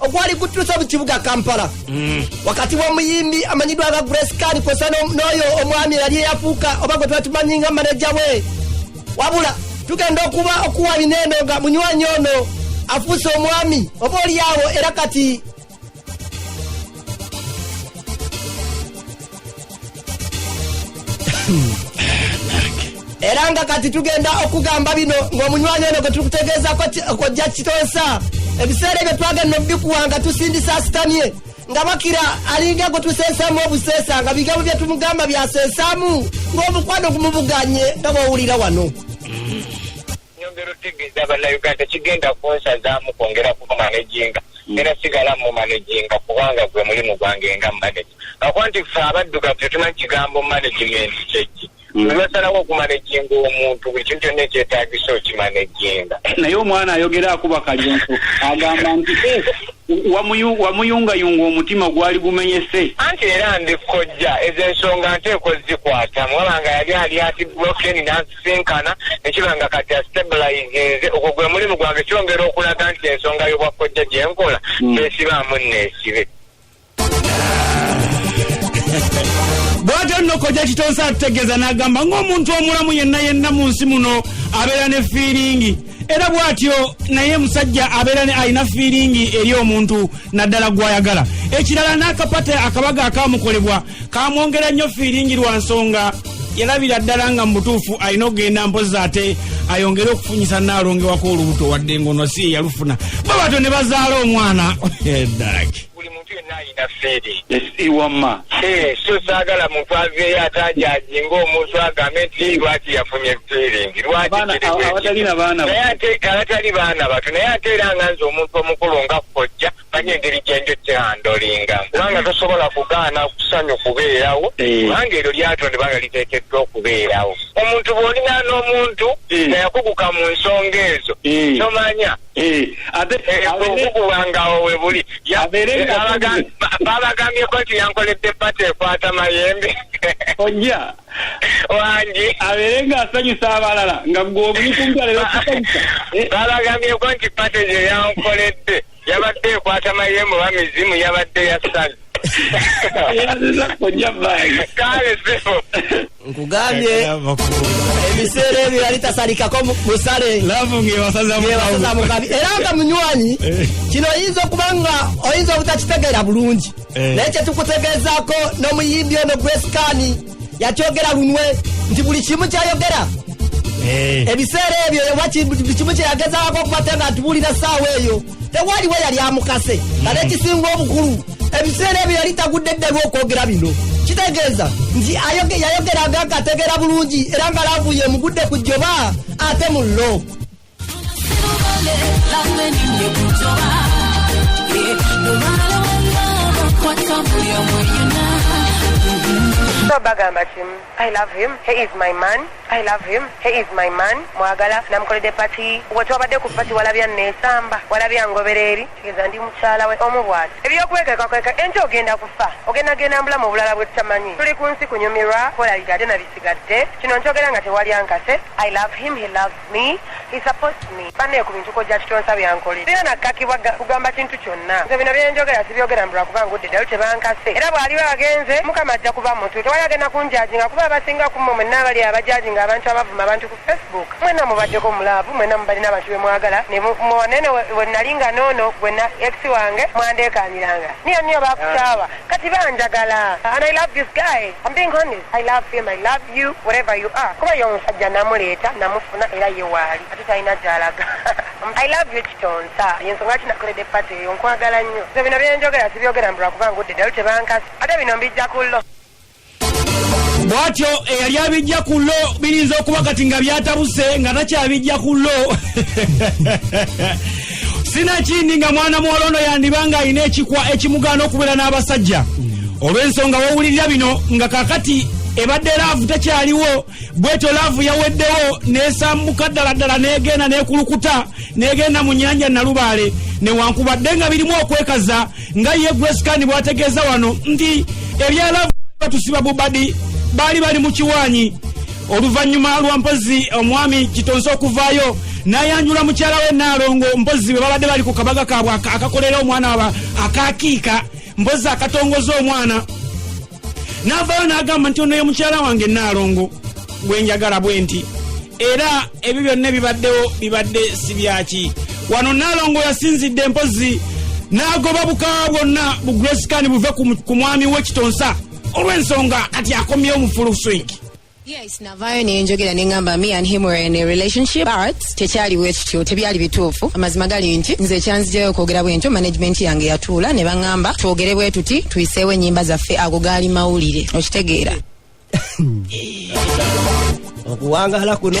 ogwali gutuuse mu kibuga kampala mm. wakati w'omuyimbi amanyiddwa nga grace kani kwosa n'oyo omwami eyali eyafuuka oba gwe twatumanyi nga maneja we wabula tugenda okuba okuwa bineeno nga munywanyi ono afuuse omwami oba olyawo era kati era nga kati tugenda okugamba bino ng'omunywanyi ono gwe tuli kutegeezako kojja kitonsa ebiseera ebyo twagenda obikuwa nga tusindisa asitamye nga bakira alinga gwe tuseesamu obuseesa nga bigambo bye tumugamba byaseesamu ng'omukwano gumubuganye nga bwowulira wano Nyongera otegeeza bannayuganda kigenda kunsazaamu kwongera kumumanaginga era sigala mumumanaginga kubanga gwe mulimu gwange nga manaja akuba nti fe abaddugavu tetumanyi kigambo management kyeki lwebasalawo mm. okumanaginga omuntu buli kintu kyonna ekyetagisa okimanaginga naye omwana ayogera akuba kalyonso agamba nti eh, wamuyungayunga omutima gwali gumenyese anti era ndi kojja ezo ensonga nteeko zikwata mwabanga yali ali ati blokeni okutusisinkana ne kiba nga kati astabilizinze ogwo gwe mulimu gwange kyongera okulaga nti ensonga y'obwakkojja gye nkola hmm. kyesibaamu nneesibe bwatyo nno kojja kitonsa atutegeeza n'agamba ng'omuntu omulamu yenna yenna mu nsi muno abeera ne fiiringi era bwatyo naye musajja abeera ne alina fiiringi eri omuntu naddala gwayagala ekirala n'akapate akabaga akamukolebwa kamwongera nnyo fiiringi lwa nsonga yalabira ddala nga mu butuufu alina okugenda mpozi ate ayongere okufunyisa naalongewako olubuto wadde ngono si yeyalufuna babatyo ne bazaala omwana edag buli muntu yenna alina feeri iwama eh, so saagala muntu aveeyo atanjaji ngaomuntu agambe nti lwaki yafunye feeling lwakiabatali baana batu naye ate era nga nze omuntu omukulu nga kojja manyi engeri gyenjo kyehandolinga kubanga tosobola kugaana kusanyu kubeerawo eh. kubanga eryo lyatondebwa nga liteekeddwa okubeerawo omuntu bw'olina n'omuntu eh. nga yakuguka mu nsonga ezo tomanya babagambyeko nti yankoledde pata ekwata mayembe ojja wangi abeere ng'asanyusa abalala nga gwe omulikumbyalero kusanyusa babagambyeko nti pata gye yankoledde yabadde ekwata mayembe oba mizimu yabadde yasaze nkugambye ebiseera ebyo yali tasalikako musale mukabi era nga munywanyi eh. kino oyinza okuba nga oyinza obutakitegeera bulungi eh. naye kyetukutegeezaako n'omuyimbi ono gwesikaani yakyogera lunwe nti buli kimu kyayogera eh. ebiseera ebyo buli kimu kyeyagezaako okubate nga atubuulira saawa eyo tewaliwo yali amukase nga nekisinga hmm. obukulu ebiseera ebyo yali tagudde eddalu okwogera bino kitegeeza nti yayogeranga nga ategeera bulungi era nga laavuye emugudde ku jjoba ate mu lo bagamba kimu I love him he is my man I love him he is my man mwagala namukolede pati wetwabadde ku pati walabya nesamba walabya ngobera eri kigeza ndi mukyala we omu bwati ebyokwekekakweka enti ogenda kufa ogenda genda mbulamu obulala bwetutamanyi tuli ku nsi kunyumirwa kolalira ate nabisigadde kino nkyogera nga tewali ankase I love him he loves Me? He supports me. Bane ku bintu kojja kitonsa byankole. Sina na kaki waga kugamba kintu kyonna. Nze bino byenjogera sibyogera mbula kuba ngudde ddalu tebankase. Era bw'aliba agenze Mukama ajja kuba mutu. Tewali agenda kunjajinga kuba abasinga ku mmwe mwenna abali abajajinga abantu abavuma abantu ku Facebook. Mwenna mubaddeko mu laavu, mwenna mubalina abantu be mwagala. Ne mu- muwanene we we nnali nga n'ono gwe na ex wange mwandeekaaniranga. Niyo niyo bakukyawa. Kati banjagala and I love this guy I'm being honest I love him I love you whatever you are kuba ye omusajja namuleeta namufuna era ye waali ate talina gyalaga I love you kitonsa yensonga ki nakolede pate eyo nkwagala nnyo so bino byenjogera sibyogera mbu lwakuba ngudde dalu tebankasi ate bino mbijja kullo bwatyo eyali abijja ku lo biyinza okuba kati nga byatabuse nga takyabijja ku lo sinakindi nga mwana muwala ono yandiba nga alina ekikwa ekimugaana okubeera n'abasajja olw'ensonga wowulirira bino nga kakati ebadde laavu tekyaliwo bwetyo laavu yaweddewo nesambuka ddala ddala negenda nekulukuta negenda mu nyanja nalubaale newankubadde nga birimu okwekaza nga ye grescan bwategeeza wano nti ebya laavu batusiba bubadi baali bali mu kiwaanyi oluvannyuma lwa mpozi omwami kitonze okuvaayo nayanjula mukyala we naalongo mpozi bwe babadde bali ku kabaga kaabwe akakolera omwana waba akakiika mpozi akatongoza omwana n'avaayo n'agamba nti ono ye mukyala wange naalongo gwe njagala bwe nti era ebyo byonna ebibaddewo bibadde si byaki wano naalongo yasinzidde empozi n'agoba bukawa bwonna bu grace kani buve ku mwami we kitonsa olw'ensonga kati akomyewo mu full swing Yes, navaayo ne njogera ne ngamba me and him were in a relationship but tekyaliwo ekityo tebyali bituufu amazima gali nti nze ekyanzijayo okwogera bwentyo management yange yatuula ne baŋŋamba twogere bwe tuti tuyiseewo ennyimba zaffe ago gaali mawulire okitegeera okuwangaala kuno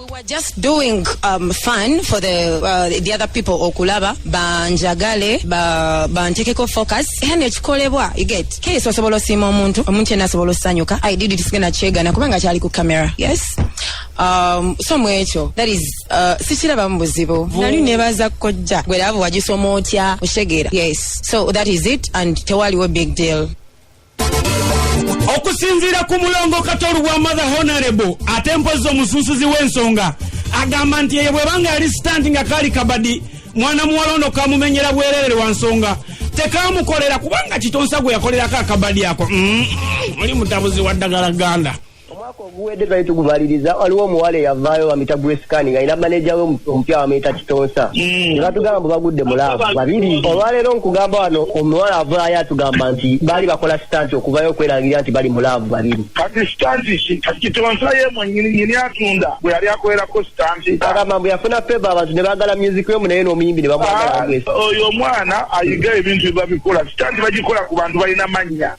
We were just doing um, fun for the, uh, the other people okulaba banjagale ba, bantekeko focus yani ekikolebwa you get kesi osobola osiima omuntu omuntu yena asobola osanyuka i did it sigenda kyegana kubanga kyali ku camera yes um, so mwekyo that is uh, sikirabamu buzibu nali nebaza kojja gwe laavu wagisoma otya oshegera yes so that is it and tewaliwo big deal okusinziira ku mulongo katolu wa mother honorable ate mpozi omusunsuzi w'ensonga agamba nti eyo bwebanga yali sitanti nga kaali kabadi mwana muwala ono kamumenyera bwererere wa nsonga tekamukolera kubanga kitonsa gwe yakolerako akabadi ako mm, oli mutabuzi wa ddagala ganda mm. Omwaka oguwedde twali tugumaliriza waliwo omuwala eyavaayo bamita Grescan nga ina maneja we omupya bamuyita Kitonsa mm. ne batugamba mbu bagudde mulaavu babiri. Olwaleero nkugamba wano omuwala avaayo atugamba nti baali bakola sitanti okuvayo okwerangirira nti bali mulaavu babiri. Kati sitanti ki? Kati Kitonsa ye mwennyini nyini atunda bwe yali akolerako sitanti. Agamba mbu yafuna feva abantu ne baagala myuziki emu naye n'omuyimbi ne bamwagala ah, Oyo omwana ayiga ebintu bye babikola sitanti bagikola ku bantu balina mannya.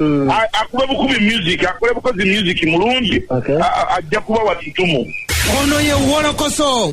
Mm. akube bukubi music akole bukozi music mulungi ajja kuba watutumu ono ye wolokoso